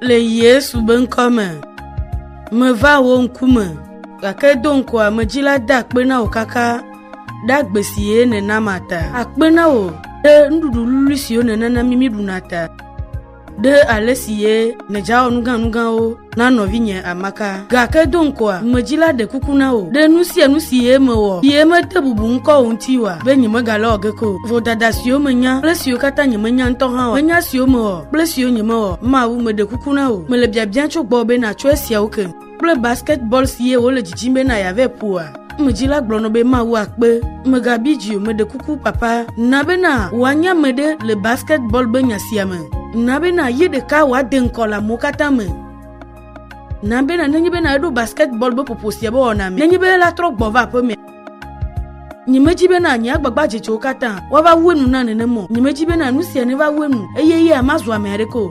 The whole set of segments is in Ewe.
Le Yesu be ŋkɔ me, meva wò ŋkume, gake do ŋkɔ ame dzi la da akpe na wò kaka ɖe agbe si ye nèna ma ta. Akpe na wò ɖe nuɖuɖu lului siwo nènana mí míɖuna ta, ɖe ale si ye nèdzawɔ nuganugawo na nɔvinye amaka. Gake do ŋkɔ ame dzi la ɖe kuku na wò ɖe nu sia nu si ye mewɔ, si ye mede bubu ŋkɔ wò ŋuti oa, be nyemegalɔ̃ ge ko o. Vodada siwo menya kple siwo katã nyemenya ŋutɔ hã oa, menya siwo mewɔ. kple siwo nyemewɔ Mawu meɖe kuku na wò. Mele biabia tso gbɔwò be nàtso esiawo ke kple basketball si ye wòle dzidzim be nàya vɛ ƒoa? Amedzi la gblɔ nɔ be Mawu akpe. Mègabi dzi o, meɖe kuku papa, na bena wòanye ame ɖe le basketball be nya sia me. Na bena ye ɖeka wòade ŋkɔ le amewo katã me. Na bena nenye bena eɖo basketball be ƒoƒo sia be wɔna me, nenye be elatrɔ gbɔ va aƒemea, Nyemedi bena nye agbagba dzetsowo katã woava wu enu na nenem o. Nyemedi bena nu sia neva wu enu, eye eya mazu ame aɖeke o.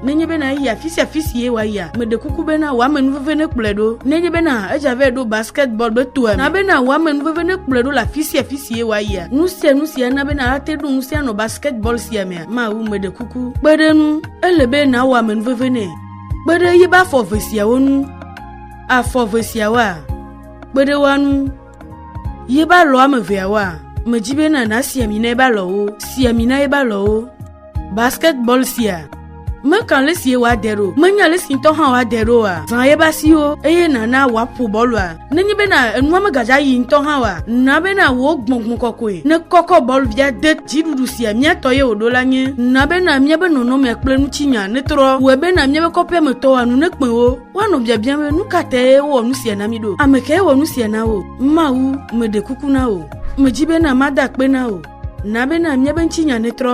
Nenye bena eyi afi sia afi si ye wòayia, meɖe kuku bena wò amenuveve nekplɔe ɖo. Nenye bena edze abe ɖo basketball be toa ene, na bena wò amenuveve nekplɔe ɖo le afi sia afi si ye wòayia. Nu sia nu si ana bena ate ɖo ŋusẽ anɔ basketball sia mea, mawu, meɖe kuku, kpe ɖe eŋu. Ele be nàwɔ amenuveve nɛ. Kpe ɖe eƒe afɔ eve siawo ŋu. Afɔ eve siawoa? Kpeɖewoanu ye ba lɔ ame veawoa? Medzi be na nasi ami na ye ba lɔwo. Si ami na ye ba lɔwo. Basketball sia. Meka le si ye wa de ɖo. Menya le si ŋutɔ hã wa de ɖo wa. Zã ye ba siwo eye nana wa ƒo bɔlua. Nenye be na enua megadza yi ŋutɔ hã wa. Na be na wo gbɔngbɔn kɔkɔe. Ne kɔkɔ bɔl via de dziɖuɖu sia mia tɔ ye woɖo la nye. Na be na mia be nɔnɔmea kple nutsinya netrɔ. Wɔe be na mia be kɔƒea me tɔwoa nu nekpɛwo. Woanɔ biabiam be nu ka tae wowɔ nu sia na mí ɖo? Ame kae wɔ nu sia na wò? Mawu, meɖe kuku na wò. Medzi be na mada akpe na wò. Na be na míabe ŋutinya netrɔ.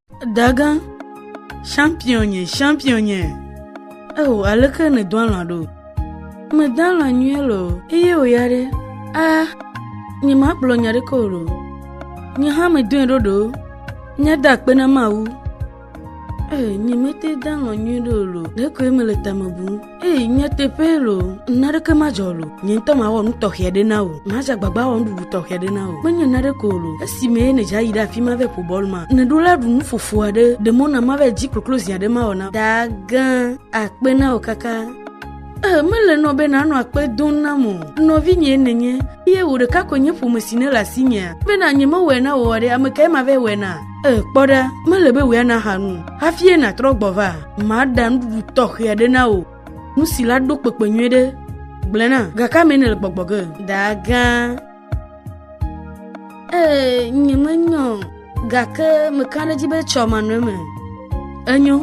Daga, champion nye, champion nye. Eo, aleke ne do alã ɖo? Me da alã nyuie lo. Eye o ya ɖe, a, nye ma kplɔ nya ɖe kɔo lo. Nye hã me doe ɖo ɖo. Nye da akpe na mawu. Ee, nye me te da alã nyuie ɖo lo. Ɖe koe me le tame bum. Eyi nyateƒe lo, naneke madzɔ lo. Nye ŋutɔ mawɔ nu tɔxɛ aɖe na wò. Madze agbagba awɔ nuɖuɖu tɔxɛ aɖe na wò. Menye naneke ko lo. Esime nèdze ayi ɖe afi ma vɛ ƒo bɔl ma, nèɖo la ɖu nu fofo aɖe, ɖe mɔ na mava edzi kloklo zi aɖe mawɔ na wò. Dagã, akpe na wò kaka. Ee, mele nɔ be nànɔ akpe dom nam o. Nɔvinyee nènye, eye wò ɖeka koe nye ƒome si nèle asinyea. Bena nyemewɔe na wò oa ɖe, ame kae mava awɔe na? E, kpɔ ɖa, mele be wòe ana aha nu hafie nàtrɔ gbɔ va. Maɖa nuɖuɖu tɔxɛ aɖe na wò. Nu si la ɖo kpekpe nyuie ɖe. Gblẽ na, gake ame nèle gbɔgbɔ ge. Dagã. Ee, nyemenyɔ, gake meka ɖe edzi be tsɔ manɔe me. Enyo.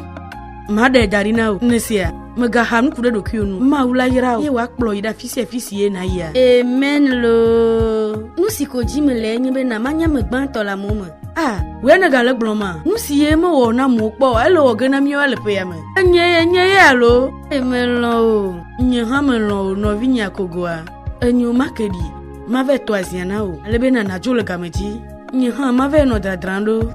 Maɖe da ɖi na wò ŋɖe sia. Mègaha nuku ɖe ɖokuiwò nu. Mawu la yra wò, eye wòakplɔ yi ɖe afi sia afi si ye nàyia. Amen loo. Nu si ko dim le enye be na manye ame gbãtɔ le amewo me. A. Wòe nègale gblɔm a? Nu si ye mewɔ na amewo kpɔ oa, ele wɔ ge na míawoa le ƒea me. Enye ye nye ye alo? Ee, melɔ̃ wò. Nye hã melɔ̃ wò, nɔvinye Akogoa. Enyo, make ɖi. Mavae tɔ azia na wò, ale be na nàdzo le game dzi. Nye hã mavae nɔ dradram ɖo.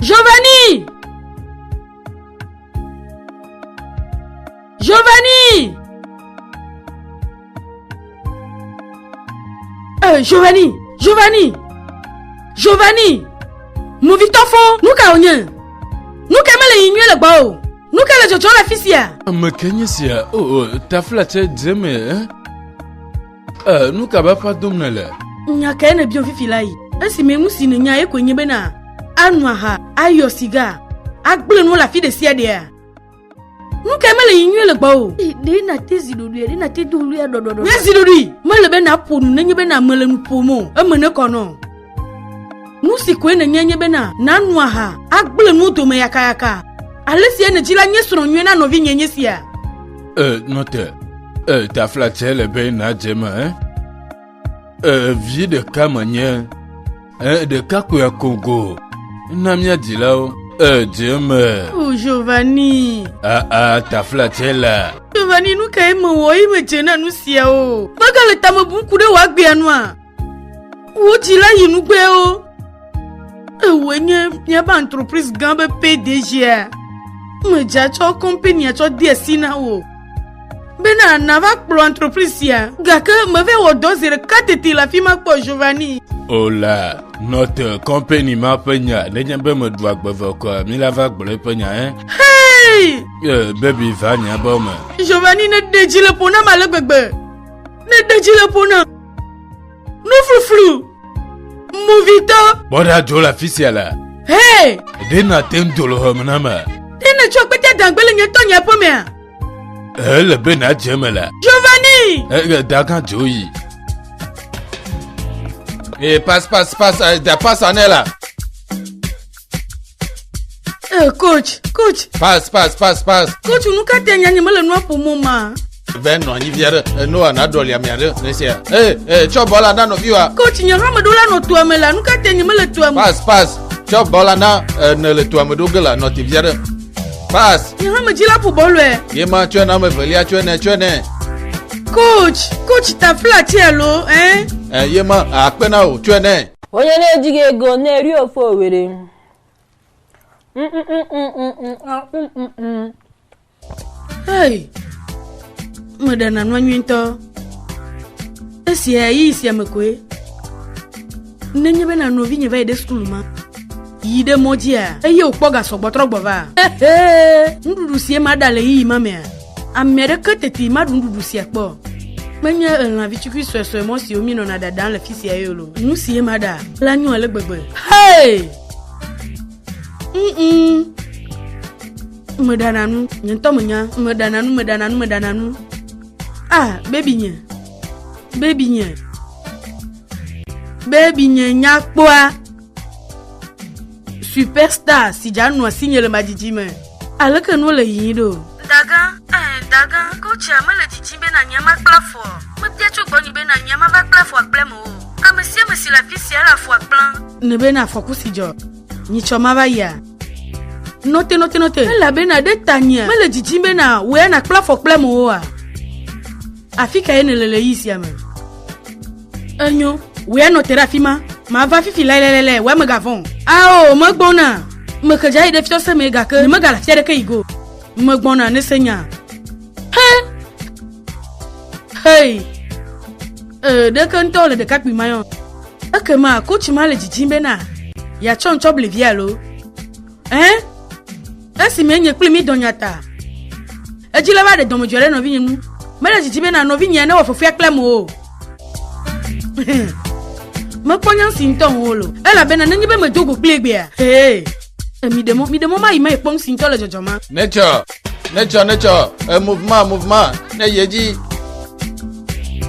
Giovanni! Giovanni! Euh, Giovanni! Giovanni! Giovanni! Movitɔfo, nu ka wònye? Nu ka mele yi nyuie le gbɔ o? Nu ka le dzɔdzɔ le afi sia? Ame ke nye sia? O, oh, oh, taflatse dze me, eh? Ee, nu ka bafa dom nèle? Nya kae nèbiam fifi la yi? Esime nu si nènya ye koe nye bena ano aha, ayɔ siga, agblẽ nuwo le afi ɖe sia ɖea? Nu kae mele yi nyuie le gbɔ o? Ɖe nàte zi ɖoɖoe, ɖe nàte do ɣlia ɖɔɖɔɖɔ. Nye zi ɖoɖoe mele be nàƒo nu nenye be name le nu ƒom o, eme nekɔ nɔ. Nu si koe nènya nye bena nàno aha, agblẽ nuwo dome yakayaka. Ale si ene dzi la nye srɔ̃ nyui na nɔvinye nye sia. E, nɔ te. E, taflatse le be nàdze eme. E, e vi ɖeka menye. E, ɖeka koe akogo. Na mía dzilawo. E, dze eme. O, Giovanni. A, a, taflatse la. Giovanni, nu kae mewɔ eye medze na nu siawo? Megale tame bum ku ɖe wò agbea nua? Wò dzi la yi nugbewo. Ewòe nye míaƒe entreprise gã be PDGa. Medza tsɔ kɔmpenia tsɔ de asi na wò. Bena nava kplɔ entreprise sia. Gake meve wɔ dɔ zi ɖeka tete le afi ma kpɔ Giovanni. Ola, nɔte kɔmpeni ma ƒe nya nenye be meɖu agbeve kɔa mi la va gblɔ eƒe nya ɛ. Hei! Eh, baby va nya bɔ me. Giovanni ne ɖe dzi le ƒo na ma le gbegbe. Ne ɖe dzi le ƒo na. Nufuflu! Movitɔ! Kpɔ ɖa dzo le afi sia la. Hee! Ɖe nàte ŋu do le xɔme na me. Ɖe nètsɔ kpete dagbe le nye tɔ nye aƒe mea? Ele be nàdze eme la. Giovanni! Ege dagã dzo yi. Ee, pas, pas, pas, da pas anɛ la. Ee, coach, coach, Pass, pass, pass, pass. coach, nu ka te nyanye mele nua ƒomɔ ma? Vɛ nɔ anyi via ɖe. Enoa naɖɔli amia ɖe. Nesia. Ee, ee, tsɔ bɔl la na nɔviwa. Coach, nye hameɖo la nɔ toa me la, nu ka te nye mele toa me? Pass, pass. Tsɔ bɔl la na ene le toa me ɖo ge la nɔ te via ɖe. Pass. Nye hamedzi la ƒo bɔl lɔe. Ye ma tsɔe na ame evelia tsɔe nɛ tsɔe nɛ. Coach, coach, ta fla ti alo, eh? Ee, ye ma akpe na o tsɔe nɛ. Wonye ne jige go ne rio fo were. Hey, meɖe nanɔ nyui ŋutɔ. Esia yi sia me koe. Nenye be nanɔ vi nye va yi ɖe sukulu ma. Yi ɖe mɔdzia eye wòkpɔ gasɔgbɔtrɔ gbɔ va. Nuɖuɖu sie ma ɖa le yiyi ma mea. Ame aɖeke teti maɖu nuɖuɖu sia kpɔ o. Menye elã vitukui suesue mɔ siwo míenɔna ɖaɖam le fi sia ye loo. Nu sie maɖa la nyo ale gbegbe. Hey! Mm-mm. Meɖana nu, nye ŋutɔ menya. Meɖana nu, meɖana nu, meɖana nu. Ah, bebi nye. Bebi nye. Bebi nye nyakpɔa. superstar si dza nua si nye le ma dzidzi me aleke nua le yiyi ɖo dagã eh dagã kotsia mele dzidzi be na nyama kpla fɔ mebia tso gbɔnyi be na nyama va kpla fɔ akple me o ame sia ame si le afi sia le afɔ akpla ne be na afɔku si dzɔ nyi tsɔ ma va yia nɔte nɔte nɔte elabena ɖe tanyia mele dzidzi be na wea na kpla fɔ kple me oa Afi kae nèle le ɣi sia me? Enyo, wò ya nɔ te ɖe afi ma. Mava fifi lailailailai, wòe megavɔ̃ o. Ao, megbɔna. Mexe dza yi ɖe fiɔse mee gake nyemegale afi aɖeke yi ge o. Megbɔna, nèse nyaa? He! Hei! Ee, ɖeke ŋutɔ wòle ɖekakpui mayɔ. Ekema, kotsi ma le didim bena yeatsɔm tsɔ ble via alo? Ɛ̃, esime nye kple mi dɔ nya ta, edzi le va ɖe dɔmedzoe ɖe nɔvinye nu. Mele didi bena nɔvinyea newɔ fefea kplem o. Mekpɔ nya si ŋutɔ ŋu wolo, elabena nenye be medo go kpli egbea, hee, miɖe mɔ, miɖe mɔ mayi me kpɔm si ŋutɔ le dzɔdzɔma. Nature Nature, nature, un mouvement, mouvement, ne yedji.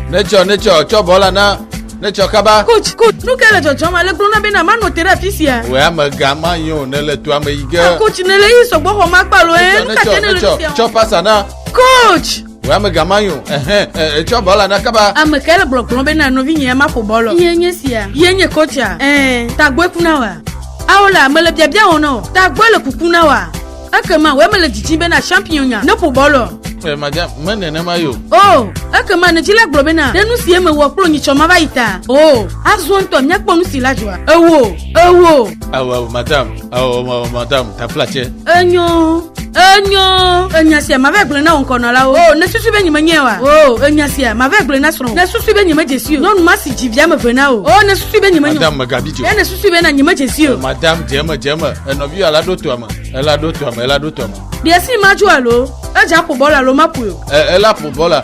Nature, nature, tsɔ bɔla na nature kaba. Coach, coach, nu ke le dzɔdzɔm ale gblɔ na bena manɔ te ɖe afi sia. Wɛ amega ma yi o ne le toa me yi ge. Ah, coach, ne le yi sɔgbɔ xɔ ma kpalo ye. Eh, nu ka te ne le afi sia. Tsɔ pasa na. Coach. Wò amega ma yo, ɛhɛn, ɛ, etsɔ bɔ la na kaba. Ame kae le gblɔgblɔ be na nɔvinyea maƒo bɔ lɔ? Ye nye sia. Ye nye kɔtsia. Ɛɛ, tagbɔe ku na wòa? Ao la, mele biabia wɔm na wò. Tagbɔe le kuku na wòa? Ekema wòe mele dzidzim be na shampionya ne ƒo bɔ lɔ. Ɛ, madza, me nenema yo. O, ekema ne dzila gblɔ be na ɖe nu sie mewɔ kplo nyitsɔ mava yi ta. O, azɔ ŋutɔ míakpɔ nu si la dzɔa. Ewoo, ewoo. Ao, ao, madam, ao, ao, madam, taflatsɛ. Enyo, enyo, enya sia mave gblẽ na wò ŋkɔnɔlawo. O, ne susu be nyime nyɛ wa. O, enya sia mave gblẽ na srɔ̃. Ne susu be nyime dzesi o. Nyɔnu ma si dzi via me ve na o. O, ne susu be nyime nyɔ. Madame megabi dzi o. Ne susu be na nyime dzesi o. Madame dzeme dzeme, enɔvi ala ɖo toa me, ela ɖo toa me, ela ɖo toa me. Ɖe si ma dzo alo, edza ƒo bɔla alo ma ƒoe o. E, ela ƒo bɔla.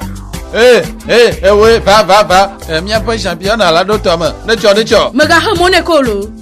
Ee, ee, ewoe, va, va, va, e, míaƒe champion ala ɖo toa me, ne tsɔ, ne tsɔ. Megaxe mɔ ne ko lo.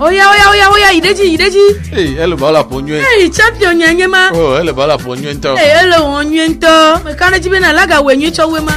Oya oya oya oya yi ɖe dzi yi ɖe dzi. Ee ele ba la ƒo nyuie. Ee champion nye nye ma. O ele ba la ƒo nyuie ŋutɔ. Ee ele wɔ nyuie ŋutɔ. Meka ɖe dzi be na laga wɔ nyuie tsɔ wɔ ma.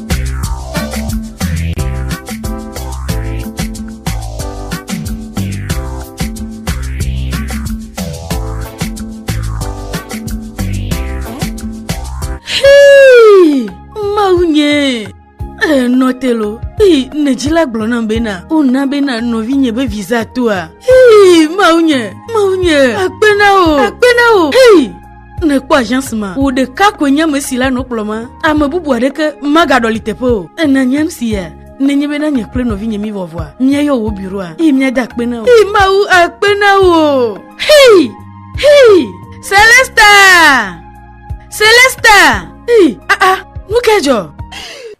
telo ii ne dzila gblɔ nam bena wona bena nɔvinye be visa toa ii mawu nye mawu nye akpe na o akpe na o ii ne kpɔ agence ma wò ɖeka koe nye ame si le anɔ kplɔ ma ame bubu aɖeke magaɖɔli teƒe o ena nyam sia nenye bena nye kple nɔvinye mi vɔvɔa míayɔ wò biroa eye míade akpe na wò eye mawu akpe na wò hei hei celesta celesta hei aa ah, ah, nu ke dzɔ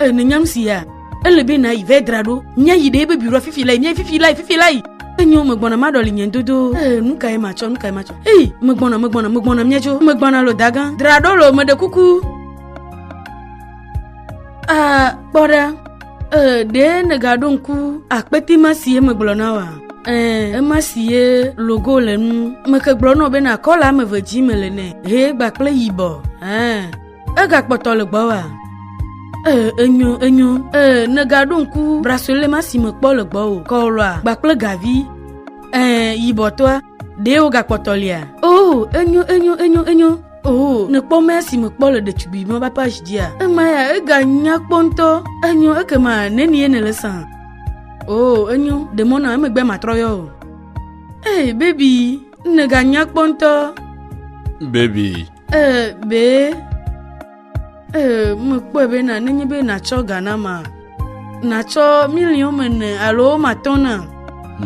E, nènyam sia? Ele be nàyi vɛ dra ɖo. Míayi ɖe ebe biɖoa fifi lae, míayi fifi lae, fifi lae. Enyo megbɔna maɖɔli nye dodo. Ee, nu kae matsɔ, nu kae matsɔ? Ei, megbɔna, megbɔna, megbɔna míadzo. Megbɔna lo dagã. Dra ɖo lo, meɖe kuku. A, kpɔ ɖa. Ee, ɖe nègaɖo ŋku akpete ma si ye megblɔ na wòa? Ɛɛ, ema si ye logo le nu. Meke gblɔ nɔ be nakɔ le ame eve dzi mele nɛ. Ʋe gbakple yibɔ. Ɛɛ. Egakpɔtɔ le gbɔwòa? Ee, enyo, enyo. Ee, nègaɖo ŋku brasolema si mekpɔ le gbɔwò, kɔwlɔa, gbakple gavi. Ee, yibɔtɔa, ɖe wogakpɔtɔ lia? Oo, enyo, enyo, enyo, enyo. Oo, nèkpɔ mea si mekpɔ le ɖetugbuimɔ ƒe apage dzia? Ema ya, eganya kpɔ ŋutɔ. Enyo, ekema nenie nèle sã? Oo, enyo, ɖe mɔ nam, emegbe matrɔ yɔ o. Ee, baby, nèganya kpɔ ŋutɔ. Baby, Ee, be, ee, mekpɔe be na nenye be natsɔ ga na ma, natsɔ miliɔn mene alo matɔ̃ na.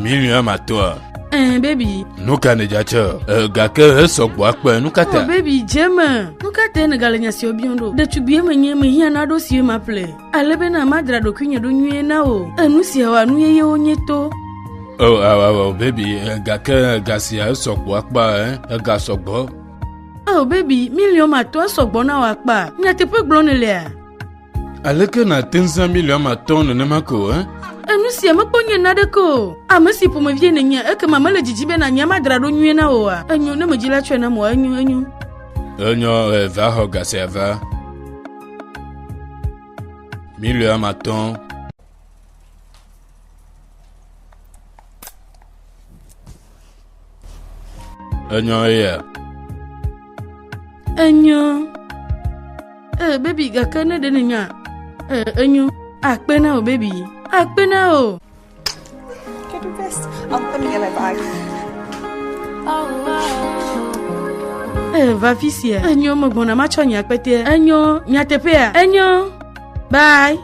Miliɔn matɔ̃a? Ee, bebi. Nu ka nèdzatsɔ? Ee, gake hesɔ gbɔ akpe, nu ka ta? Oh, bebi, dze me. Nu ka te nègale nya siwo biɔm ɖo? Ɖetugbie menye, mehiã naɖo siwo maƒle. Ale bena madra ɖokuinye ɖo nyuie na wò. Enu siawoa, nu yeyewo nye to. Oh, oh, oh, bebi, gake ga sia esɔ gbɔ akpa, eh? Ega sɔ gbɔ. Oh baby, miliɔn matɔ sɔgbɔ na wò akpa. Nyateƒe gblɔm nèlea? Aleke nàte ŋu zã miliɔn matɔ nenema ko eh? Enu sia mekpɔ nye naɖeke o. Ame si ƒomevie nènye, ekema mele didi be nànya madra ɖo nyuie na wòa? Enyo, ne medzi la tsɔe nam wòa, enyo, enyo. Enyo, eva xɔ ga sia va. Miliɔn matɔ. Enyɔ eya. Enyɔ. Ee, baby, gake ne ɖe nènya. Ee, enyo. Akpe na o, baby. Akpe na o. Get the best. I'll put me in my bag. Oh, wow. Ee, va fi sia. Enyo, megbɔna matsɔ nye akpetea. Enyo, nyateƒea. Enyo. Bye.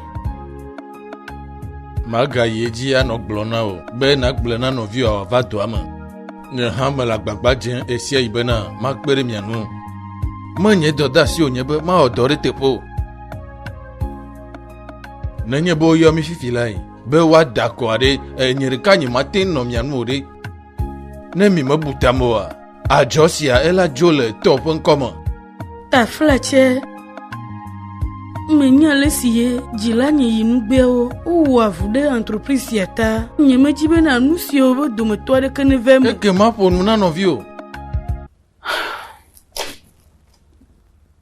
Magayi edzi anɔ gblɔ na wò be nàgblɔ na nɔviwò wòava dɔa me. Nye hã mele agbagba dzem ɣesia ɣi bena makpe ɖe mia ŋu. Menye dɔdeasi wònye be mawɔ dɔ ɖe teƒe o. Nenye be woyɔ mi fifi lae be woada akɔ aɖe, nye ɖeka nyemate ŋu nɔ mia ŋu o ɖe, ne mi mebu ta me oa? Adzɔ sia ela dzo le tɔ ƒe ŋkɔ me. Tafla tsɛ me nya le si ye dzila nye yi nugbeawo wowɔ avu ɖe entreprise sia ta. Nye me dzi bena nu siawo be dometɔ aɖeke ne ve me. Eke ma ƒo nu na nɔviwo.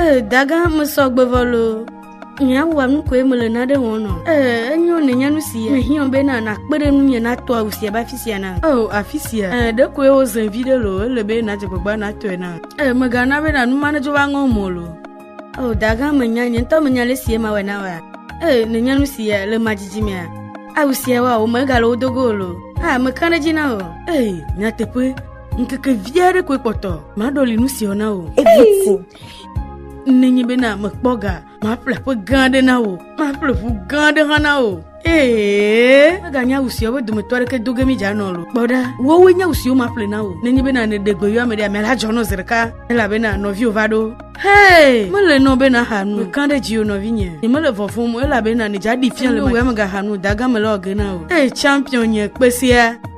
Ee, dagã mesɔ gbevɔ loo. Nyawa nu koe mele nane wɔm nɔ. Ee, enyo ne nya nu sia. Mehiã be na nakpe ɖe nu nye natɔ awu sia ba afi sia na. Oo, afi sia. Ee, ɖe koe wo zẽ vi ɖe lo. Ele be nadze gbagba natɔe na. Ee, megana be na nu ma nedzo va ŋɔ mɔ lo. Oo, dagã menya nye ŋutɔ menya le sie ma wɔ na wa. Ee, ne nya nu sia le ma dzidzi mea. Awu sia wa wo megale wo dogo lo. Ah, mekã ɖe dzi na o. Ee, nyateƒe. ŋkeke vi aɖe koe kpɔtɔ maɖɔli nu siɔ na wò eviku nenye bena mekpɔ ga maƒle ƒe gã aɖe na wò maƒle ƒu gã aɖe hã na wò ee meganye awu siawo ƒe dometɔ aɖeke do ge mi dzanɔ lo kpɔ ɖa wowoe nye awu siwo maƒle na wò nenye bena nèɖe gbe yɔame ɖe ame la dzɔ nɔ zi ɖeka elabena nɔviwo va ɖo Hey, mele nɔ be naxa nu. Mekã ɖe dziwò nɔvinye. Nyemele vɔvɔm o elabena nèdze aɖi fia le mawuame gaxa nu dagame le ɔge na o. Hey, champion nye kpesia.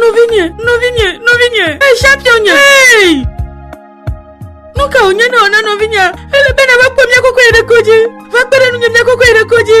Nɔvinye, nɔvinye, nɔvinye, esia fiɔ nye. Nu ka wònye ne wòna nɔvinye? Ele bena va kpɔ mía koko yi ɖe kodzi. Va kpe ɖe nunye mía koko yi ɖe kodzi.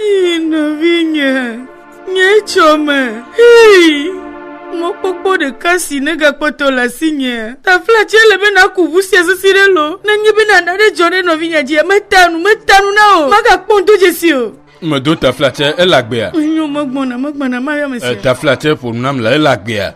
Ii nɔvinye, nye tsɔ me. Ii mɔkpɔkpɔ ɖeka si negakpɔtɔ le asinye. Tafla tse le be naku ʋu sia sisi ɖe lo. Nenye be nana ɖe dzɔ ɖe nɔvinye dzia, meta nu, meta nu na o. Magakpɔ ŋdodze si o. Medo taflatse ele agbea. Menyo megbɔna megbɔna mayɔ me sia. Taflatse ƒo nu nam le ele agbea.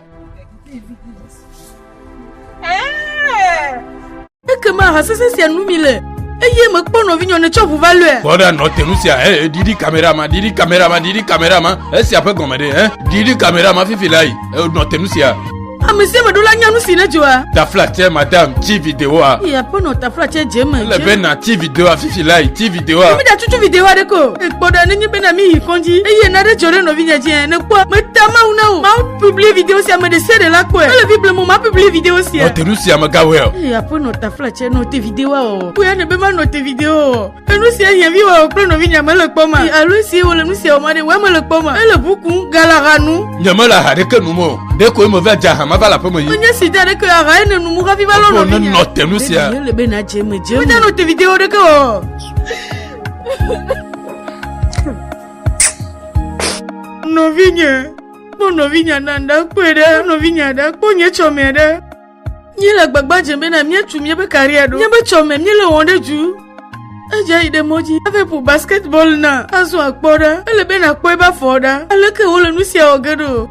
Ekema ha sese sia nu mi le eye mekpɔ nɔvinyɔ ne tsɔ ʋu va lɔe. Kpɔ ɖa nɔte nu sia ɛ didi kamera ma didi kamera ma didi kamera ma esia ƒe gɔme ɖe ɛ didi kamera ma fifi la yi. Enɔ te nu sia. Ame sia ame ɖo la nya nu si ne dzɔa. Taflatse madame ti videoa. Eya ƒe nɔ taflatse dze me. Ele be na ti videoa fifi la yi ti videoa. Emi da tutu video aɖe ko. Ekpɔ ɖa nenye be na mi yi kɔndzi. Eye na ɖe dzɔ ɖe nɔvi nya dzi ne kpɔ. Me ta mawu na o. Mawu publie video sia me ɖe se ɖe la kpɔe. Ele vi blemo ma publie video sia. Nɔ te nu sia me gawel. Eya ƒe nɔ taflatse nɔ te videoa o. Kpɔe ne be ma nɔ te video o. enu sia nye vi wɔ kple nɔvi nya mele kpɔ ma alo si wole nu sia wɔma ɖe wɔ mele kpɔ ma ele ʋu kum galaha nu. nye mele aha ɖeke nu mɔ ɖe ko eme va dza hama va le aƒe me yi. nye si da ɖeke aha ye nenu mu hafi va lɔ nɔvi nya. nenɔ te nu sia. ele be na dze me dze me. wodze nɔ te video ɖeke wɔ. nɔvi nye kpɔ nɔvi nya na nda kpɔe ɖe nɔvi nya ɖe kpɔ nye tsɔ mɛ ɖe. Míele gbagba dzem bena míatu míaƒe karia ɖo. Míaƒe tsɔ me míele wɔm ɖe du. Edze yi ɖe mɔ dzi hafi ƒo basketball na azɔ akpɔ ɖa. Ele be nàkpɔe be afɔ ɖa. Aleke wole nu sia wɔ ge ɖo?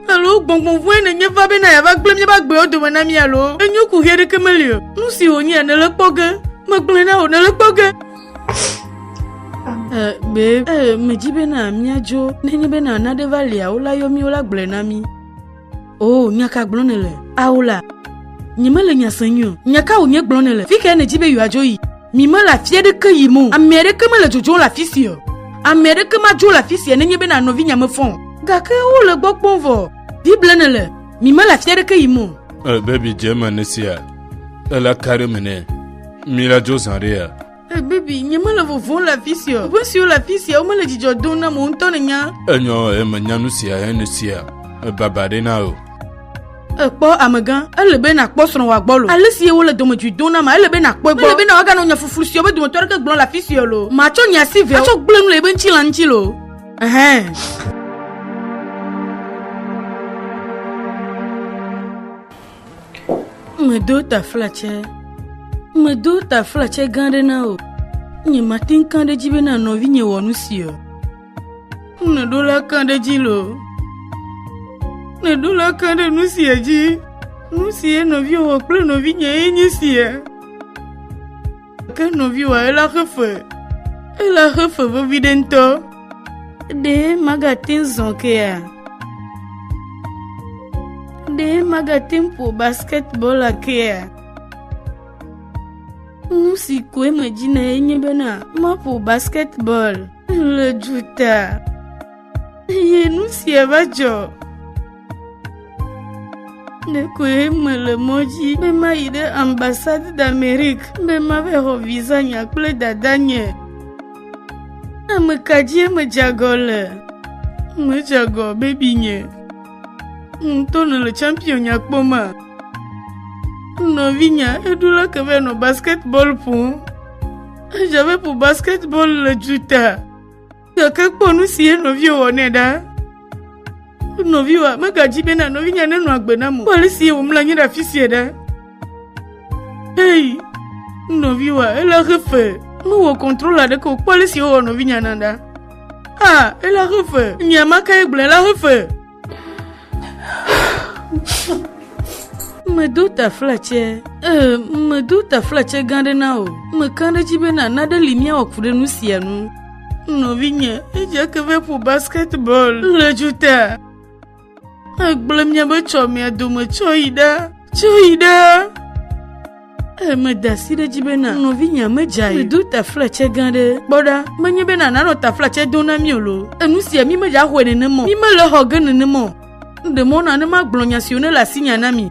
Alo gbɔngbɔn vɔ̃e nènye va bena yeava gblẽ míaƒe agbewo dome na mí alo enyo ku ʋɛ ɖeke meli o. Nu si wònyea nèle kpɔ ge. Megblɔe na wò nèle kpɔ ge. Eh, babe, eh, medzi bena míadzo. Nenye bena nane va lia, wolayɔ mí, wolagblɔe na mí. O, nya ka gblɔm nèle? Aola, nyemele nya sem nyuie o. Nya ka wònye gblɔm nèle? Fi kae nèdi be yewoadzo yi? Mi mele afi aɖeke yim o. Ame aɖeke mele dzodzom le afi sia o. Ame aɖeke madzo le afi sia nenye bena nɔvinyea mefɔ o. Gake wole gbɔ kpɔm vɔ. Biblia nèle? Mi mele afi aɖeke yim o. Ele be miadze eme ne esia le la ka ɖe eme nɛ. Mi la dzo zã ɖe ya? Hey baby, nye mele vovon le afi sia. Ƒe siwo le afi sia, womele dzidzɔ dom na mo ŋutɔ ne nya. Enyɔ eme nya nu sia enu sia. Baba ɖe na o. Ekpɔ amegã, ele be nakpɔ srɔ̃ wòa gbɔ lo. Ale si ye wole dɔmedzoe dom na ma, ele be nakpɔe gbɔ. Mele be na woaganɔ nya fuflu siwo be dometɔ aɖeke gblɔ le afi sia lo. Matsɔ nye asi ve atsɔ gblẽ nu le yebe ŋutilã ŋuti lo. Ɛhɛn. Medo taflatse, medo taflatse gã aɖe na wò. Nye mate ŋu ka ɖe edzi bena nɔvinye wɔ nu si o. Nèɖo la ka ɖe edzi loo. Nèɖo la ka ɖe nu sia dzi. Nu si ye nɔviwò wɔ kple nɔvinye ye nye sia. Ke nɔviwòa ela xe fe. Ela xe fe vevi ɖe ŋutɔ. Ɖe magate ŋu zɔ kea? Ɖe magate ŋu ƒo basketball kea? Nu si koe medzi na enye bena maƒo basketball le duta. Eye nu sia va dzɔ. Ɖekoe mele mɔ dzi be mayi ɖe ambassade d'Amérique be mava xɔ visa nya kple dadanye. Ame ka dzie medze agɔ le? Medze agɔ bebinye. Ŋutɔ nèle champion nya kpɔm a? Nɔvinya eɖo la ke va nɔ basketball ƒom. Eja ve ƒo basketball le juta. Gake kpɔ nu si enɔviwo wɔ nɛ ɖa. Nɔviwoa, megadzi bena nɔvinye nenɔ agbe nam o. Kpɔ ale si wòmlɔ anyi ɖe afi sia ɖa. Ei, nɔviwoa, ele axe fe. Mewɔ kɔntrol aɖeke o. Kpɔ ale si wowɔ nɔvinya na ɖa. Ah, ele axe fe. Nya ma kae gblɔe le axe fe. medo taflatse ee medo taflatse gã ɖe na o meka ɖe dzi be na naɖe li míawɔ ku ɖe nu sia nu nɔvinye edze ke ve ƒo basketball le dzuta egblẽ miabe tsɔ mia dome tsɔ yi ɖa tsɔ yi ɖa Eh, meda asi ɖe edzi bena nɔvinye medza yi. Medo taflatse gã ɖe. Kpɔ ɖa, menye bena nanɔ taflatse do na mí o lo. Enu sia mí medza xɔe nenema o. Mí mele xɔ ge nenema o. Ɖe mɔ na ne magblɔ nya siwo nele asinya na mi.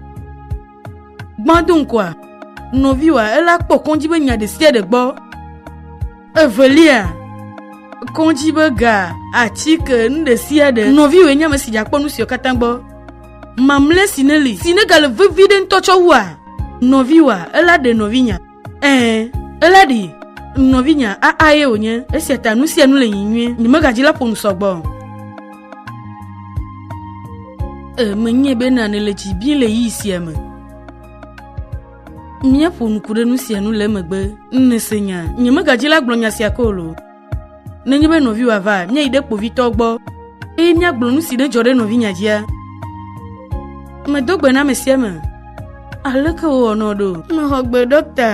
Gbã do ŋkɔa, nɔviwòa, ela kpɔ kɔndzi be nya ɖe sia ɖe gbɔ. Evelia, kɔdzi be ga, atike, nu ɖe sia ɖe. Nɔviwòe nye ame si dze akpɔ nu siwo katã gbɔ. Mamlɛ si neli, si negale vevi ɖe ŋutɔ tsɔ wua? Nɔviwòa, ela ɖe nɔvinya. Ɛɛ, ela ɖi. Nɔvinya, aa ye wònye. Esia ta nu sia nu le yiyim nyuie. Nye megadzi la ƒo nu sɔgbɔ o. Ee, menyae be na nèle dzi bim le ɣeyiɣi sia me. Míaƒo nuku ɖe nu sia nu le emegbe. Nèse nya. Nye megadi la gblɔ nya sia ko o. Nenye be nɔviwò ava, míayi ɖe kpovitɔ gbɔ, eye míagblɔ nu si ɖe dzɔ ɖe nɔvinya dzia. Medo gbe na ame sia ame. Aleke wòwɔ nɔ ɖo? Mexɔ gbe, ɖɔkta.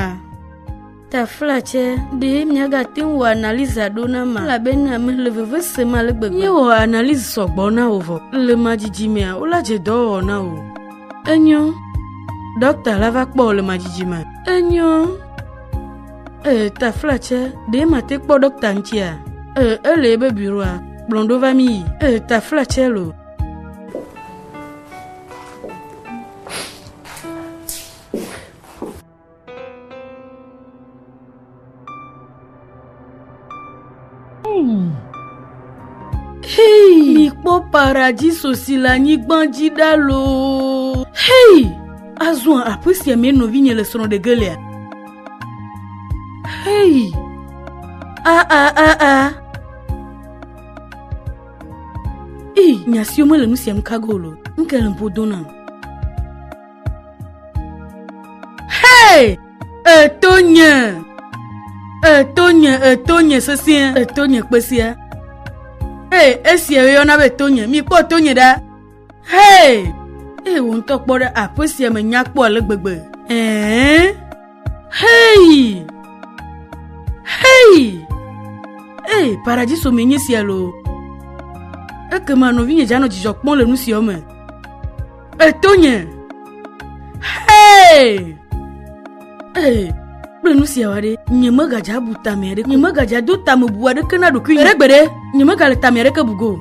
Tafla tsɛ, ɖee míagate ŋu wɔ analyse ɖo na ma, elabena mele veve sem ale gbegbe. Míewɔ analyse sɔgbɔ na wò vɔ. Le ma dzidzimea, wola dze dɔwɔwɔ na wò. Enyo. Ɖɔkta la va kpɔ wò le ma dzidzime. Enyo. Ee, Tafla tsɛ, ɖee mate kpɔ ɖɔkta ŋutia? Ee, ele ebe bureau-a. Kplɔm ɖo va míyi. Ee, Tafla tsɛ lo. Mikpɔ paradiso si le anyigba dzi ɖa loo. Hei! Azɔ aƒe sia me nɔvinye le srɔ̃ ɖe gelea. Hei! A a a a. Ee, nya siwo mele nu siam kago lo. Nke le ƒo do nam. Hey! Eto nye! Eto nye, eto nye sesẽ, eto nye kpesia. Hey, esia yɔna be to nye. Mikpɔ to nye ɖa. Hey! Hey, wò ŋutɔ kpɔ ɖe aƒe sia me nya kpɔ ale gbegbe. Hey! Hey! Hey! Hey, paradiso me nye sia loo. Ekema nɔvinye dzanɔ dzidzɔ kpɔm le nu siawo me. Etonye. Hey! Hey! kple nu siawo aɖe nye megadza bu tame aɖeke nye megadza do tame bu aɖeke na ɖokui nye ɖegbede nye megale tame aɖeke bugo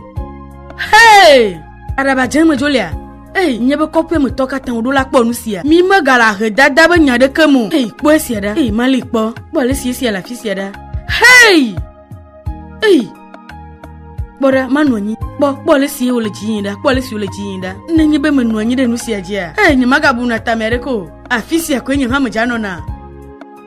hei aɖaba dze me dzolia ei nye be kɔƒe me tɔ katã woɖo la kpɔ nu sia mi megala he dada be nya aɖeke mo ei kpɔ esia ɖa ei mali kpɔ kpɔ ale si esia le afi sia ɖa hei Ei! Kpɔ ɖa, manɔ anyi. Kpɔ, kpɔ ale si wòle dzi yim ɖa, kpɔ ale si wòle dzi yim ɖa. Ne nye be menɔ anyi ɖe nu sia dzia, ee, nyemagabu nu atame aɖeke o. Afi sia koe nye hamedza nɔna.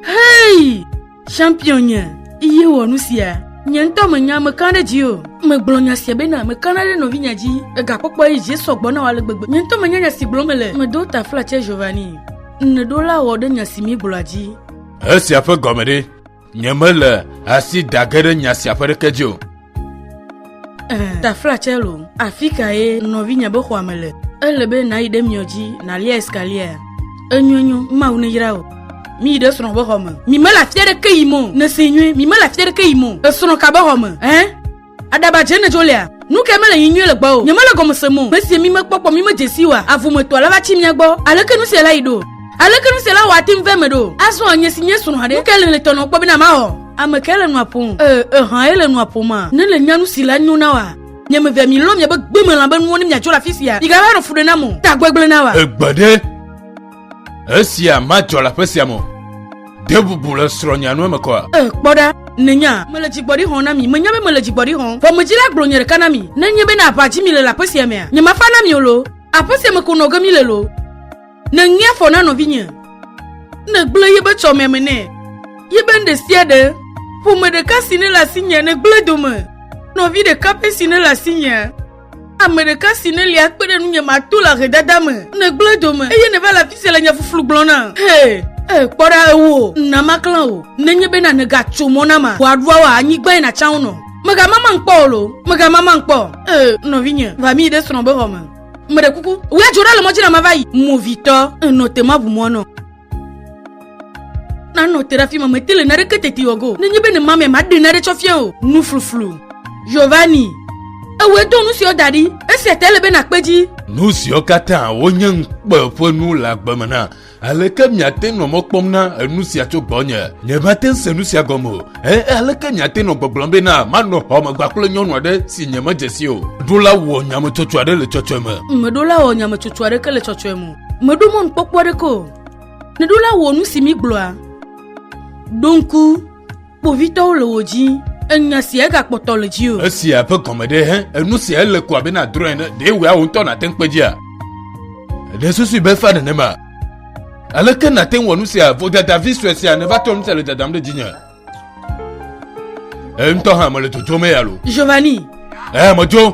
Hei! Champion nye, iye wɔ nu sia. Nye ŋutɔ menya mekã ɖe dzi o. Megblɔ nya sia bena mekãna ɖe nɔvinya dzi. Egakpɔkpɔ ye dzi sɔ gbɔ na wò ale gbegbe. Nye ŋutɔ menya nya si gblɔm mele. Medo taflatse Giovanni. Nèɖo la wɔ ɖe nya si míegblɔa dzi. Esia ƒe gɔme ɖe? Nyemele asi dage ɖe nya sia ƒe ɖeke dzi o. Taflatsɛ lo, afi kae nɔvinye be xɔa me le? Ele be nàyi ɖe miɔ dzi nàlia escalier. Enyo enyo, Mawu neyra wò. Miyi ɖe srɔ̃ ƒe xɔ me. Mi mele afi aɖeke yim o. Nèsee nyuie, mi mele afi aɖeke yim o. Esrɔ̃ ka be xɔ me? Ɛ̃? Aɖaba dze ne dzo lea. Nu kae mele nyi nyuie le gbɔa o? Nye mele gɔme sem o. Mesie mi mekpɔ kpɔ mi medze si wa. Avu me tɔa la va tsi mia gbɔ. Aleke nu sia la yi ɖo? Aleke nu sia la wɔ ate ŋu va eme ɖo? Azɔa nye si nye srɔ̃ ɖe. Nu kae le le tɔ nɔ kpɔ bena mawɔ? Ame kae le nua ƒom? E, eha ye le nua ƒom a? Ne le nya nu si la nyo na wa. Nye me vea mi lɔ miabe gbemelã be nuwo ne miadzo le afisia. Migava nɔ fu ɖe nam o. Ta gbegble na wa. Egbe ɖe. Esia madzɔ le aƒe sia me o. De bubu le srɔ̃nya nu eme kɔa? E, kpɔ ɖa, nènya, mele dzigbɔɖi xɔm na mi. Menya be mele dzigbɔɖi xɔm. Ƒomedzila gblɔ nye ɖeka na mi. Ne enye be na aʋa dzi mi le le aƒe sia mea, nyemafa na mi o loo. Aƒe sia me ko nɔ ge mi le loo. Nèŋe afɔ na nɔvinye. Nègblẽ ye be tsɔmea me nɛ. Ye be nu ɖe sia ɖe. Ƒome ɖeka si nele asinyea, nègblẽ dome. Nɔvi ɖeka pɛ si nele asinyea. ame ɖeka si nelia kpe ɖe nunye mato le ahedada me negblẽ dome eye neva le afi sia le nya fuflu gblɔ na he ee kpɔ ɖa ewo na maklã o nenye bena nègatso mɔ na ma wòaɖua wɔ anyigbae nàtsa wo nɔ megamama ŋkpɔ o lo megamama ŋkpɔ ee nɔvinye va mi ɖe srɔ̃ be xɔ me meɖe kuku wòadzo ɖa le mɔdzi na mava yi movitɔ enɔ te maʋu mɔ nɔ Nanɔ te ɖe afi ma mete le naɖeke teti wɔ go. Nenye be ne mamia maɖe naɖe tsɔ fia o. Nu fluflu. Giovanni. Ewɔe do nu siwo da ɖi. Esia te ele be nakpe dzi. Nu siwo katã wonye ŋukpe ƒe nu le agbe me na. Aleke miate nɔ mɔ kpɔm na enu sia tso gbɔnye? Nyemate ŋu se nu sia gɔme o. E, aleke miate nɔ gbɔgblɔm be na manɔ xɔ me gbakple nyɔnu aɖe si nyemedze si o? Ɖola wɔ nyametsotso aɖe le tsɔtsɔe me. Meɖola wɔ nyametsotso aɖeke le tsɔtsɔe me. Mèɖo mɔnukpɔkpɔ aɖeke o. Nèɖo la wɔ nu si mígblɔa. Ɖo ŋku, kpovitɔwo le wò dzi. Enya sia egakpɔtɔ le dzi o. Esia ƒe gɔme ɖe hẽ? Enu sia ele ko abe nàdrɔ̃ ene. Ɖe wòe wò ŋutɔ nàte ŋu kpe dzia? Èɖe susu be efa nenema? Aleke nàte ŋu wɔ nu sia? Vodadavi sue sia nèva trɔ nu sia le dadam ɖe dzinye. Eye ŋutɔ hã mele dzodzom eya lo. Giovanni. Ee, medzo.